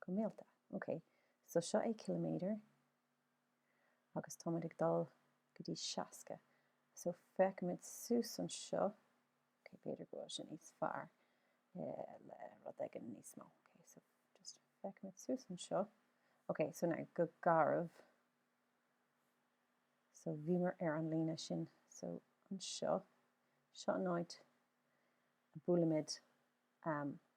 go mílte. Ok, so seo é ciliméadar agus táimid ag dul go dtí seasca. So féachaimid suas anseo, ok b'fhéidir go bhfuil sé níos fearr le rud éigin níos mó. Ok, so just féachaimid suas anseo. Ok, so now go garbh. So bhíomar ar an líne sin. So anseo, seo an áit a bhuailimid.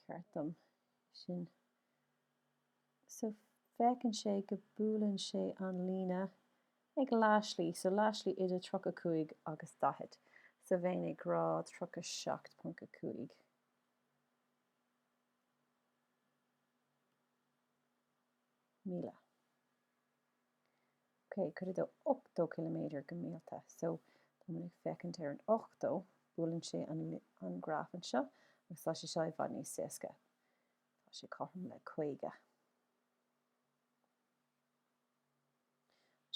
ceart ansin so féachann sé go buaileann sé an líne ag leathslí so leathslí idir 35 agus 40 so bheinn ag rá 37.5 míle. ok, cuid a dó 80 ciliméadar go mílte? So, tá muid ag féachaint ar an 80, buaileann sé an an graf anseo agus tá sé seo i bhfad níos éasca. Tá sé cothrom le 50.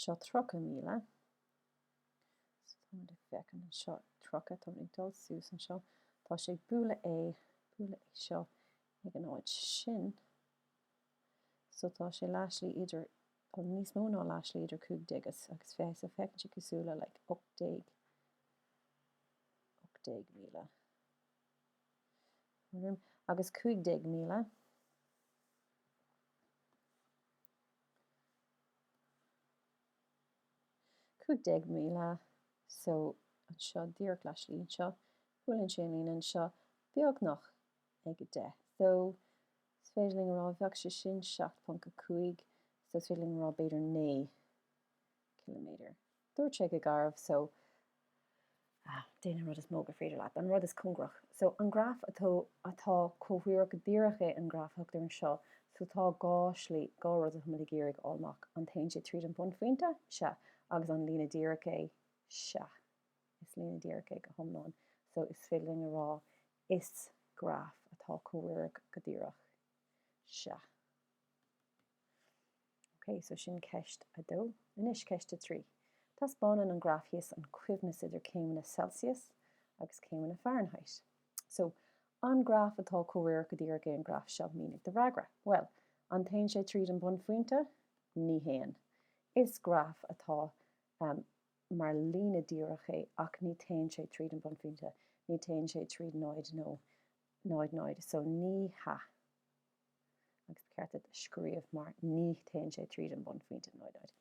Seo 30 míle. So, tá muid ag féachaint anseo 30, tá muid ag dul suas anseo. Tá sé ag bualadh é, bualadh é seo ag an áit sin. so tá sé leathslí idir, well níos mó ná leathslí idir cúig déag is, agus fiche, so féachann sé cosúil le like ocht déag, ocht déag míle, tuairim, agus cúig déag míle. cúig déag míle, so anseo díreach leathslí anseo, buaileann sé an líne anseo beagnach ag a deich, so So féidir linn a rá, bheadh sé sin 7.5 so is féidir linn a rá b'fhéidir 9 km. Dúirt sé go garbh so, ah, déan an rud is mó gur féidir leat, an rud is cóngaraí. So, an graf atá, atá comhréireach go díreach é an graf a thugtar anseo, so tá dhá slí, dhá rud atá muid ag iarraidh a fháil amach, an dtéann sé tríd an bhunphointe? Sea. Agus an líne díreach é? Sea. Is líne dhíreach é go hiomlán, so is féidir linn a rá is graf atá comhréireach go díreach. Sea. Ok, so sin ceist a dó. Anois ceist a trí. Taispeánann an graf thíos an coibhneas idir céimeanna Celsius agus céimeanna Fahrenheit. So, an graf atá comhréireach go díreach é an graf seo? Mínigh do fhreagra. Bhuel, an dtéann sé tríd an bhunphointe? Ní théann. Is graf atá mar líne díreach é ach ní théann sé tríd an bunphointe, ní théann sé tríd 0 nó 0 0 so ní hea agus ba cheart duit a scríobh mar ní théann sé tríd an bunphointe 0 0.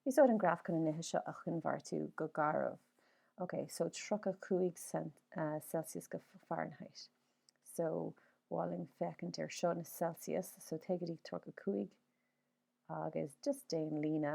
Úsáid an graf chun na nithe seo a choinbhéartú go garbh, ok so 35 Celsius go Fahrenheit so ba mhaith linn féachaint ar seo na Celsius so téigh go dtí 35 agus just déan líne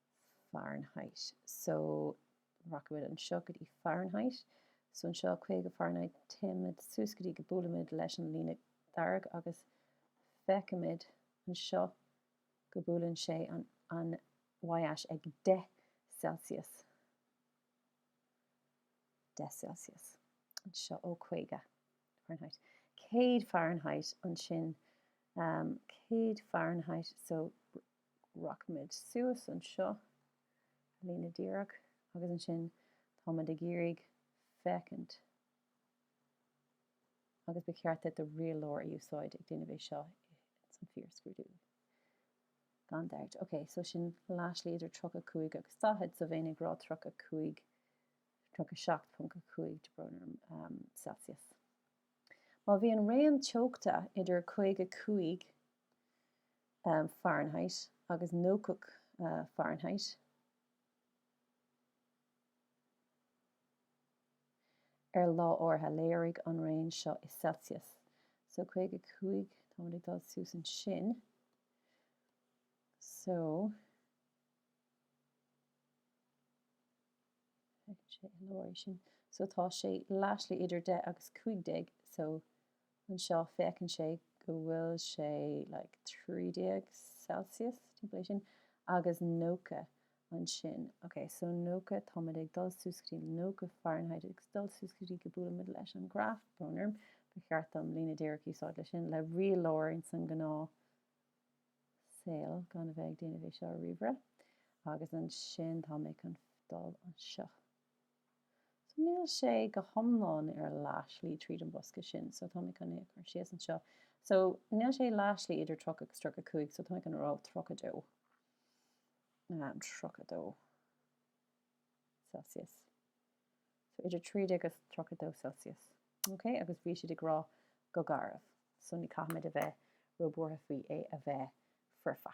Fahrenheit. So, rachaimid anseo go dtí Fahrenheit. So, anseo, 50 Fahrenheit, téimid suas go dtí go buailimid leis an líne dhearg agus feicimid anseo go buaileann sé an an y-ais ag 10 Celsius. 10 Celsius. Anseo, ó, 50 Fahrenheit. 100 Fahrenheit ansin. 100 Fahrenheit. So, rachaimid suas anseo, ar líne díreach, agus ansin táimid ag iarraidh féachaint, agus ba cheart duit rialóir a úsáid ag déanamh é seo ins an fíorscrúdú, gan dabht. Ok, so sin leathshlí idir 35 agus 40, so bheinn ag rá 35, 37.5 tá brón orm, Celsius. Má bhíonn raon teochta idir 55 Fahrenheit agus 90 Fahrenheit ar lá áirithe, léirigh an raon seo i Celsius, so 55 táimid ag dul suas ansin, so. Feiceann sé i lár é sin. So tá sé leathshlí idir deich agus cúig déag. So anseo féachann sé go bhfuil sé like trí déag Celsius, timpeall é sin, agus nócha ansin. Ok, so nócha, táimid ag dul suas go dtí nócha Fahrenheit agus dul suas go dtí go buailimid leis an graf, tá brón orm, ba cheart dom líne díreach a úsáid leis sin, le rialóir ins an ngnáth, saol gan a bheith ag déanamh é seo ar ríomhaire agus ansin tá mé chun dul anseo so níl sé go hiomlán ar leath-shlí tríd an bosca sin so tá mé chun é a chur síos anseo so níl sé leath-shlí idir 30 agus 35 so tá mé chun rá 32 um, 32 Celsius. so idir trí déag is tríocha dó Celsius. Ok, agus bhí siad ag rá go garbh, so ní caithfimid a bheith ró-buartha faoi é a bheith foirfe.